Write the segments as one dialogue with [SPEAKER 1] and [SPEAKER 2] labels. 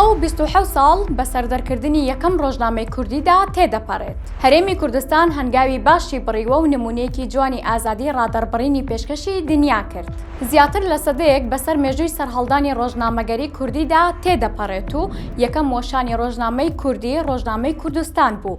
[SPEAKER 1] سەد و بیست و حەوت ساڵ بە سەردەرکردنی یەکەم ڕۆژنامەی کوردیدا تێدەپەڕێت. هەرێمی کوردستان هەنگاوی باشی بڕیوە و نموونەیەکی جوانی ئازادیی ڕادەڕبڕینی پێشکەشی دنیا کرد. زیاتر لە سەدەیەک بەسەر مێژووی سەرهەڵدانی ڕۆژنامەگەریی کوردیدا تێدەپەڕێت و یەکەم وەشانی ڕۆژنامەی کوردی، ڕۆژنامەی کوردستان بوو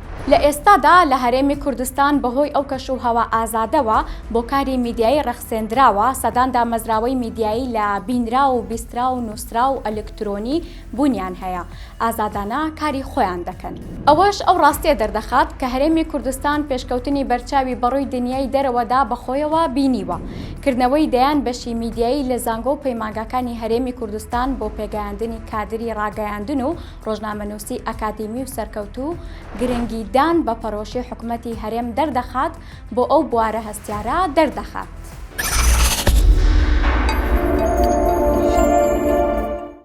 [SPEAKER 1] لە ئێستادا لە هەرێمی کوردستان بەهۆی ئەو کەش و هەوا ئازادەوە بۆ کاری میدیایی ڕەخسێندراوە، سەدان دامەزراوەی میدیایی لە بینراو و بیستراو و نووسراو و ئەلکترۆنی بوونیان هەیە، ئازادانە کاری خۆیان دەکەن. ئەوەش ئەو ڕاستییە دەردەخات کە هەرێمی کوردستان پێشکەوتنی بەرچاوی بەڕووی دنیای دەرەوەدا بەخۆیەوە بینیوە، کردنەوەی دەیان بەشی میدیایی لە زانگۆ و پەیمانگاکانی هەرێمی کوردستان بۆ پێگەیاندنی کادری ڕاگەیاندن و ڕۆژنامەنووسی ئەکادیمی و سەرکەوتوو گرنگیدان بە پەرۆشی حکومەتی هەرێم دەردەخات بۆ ئەو بوارە هەستیارە دەردەخات.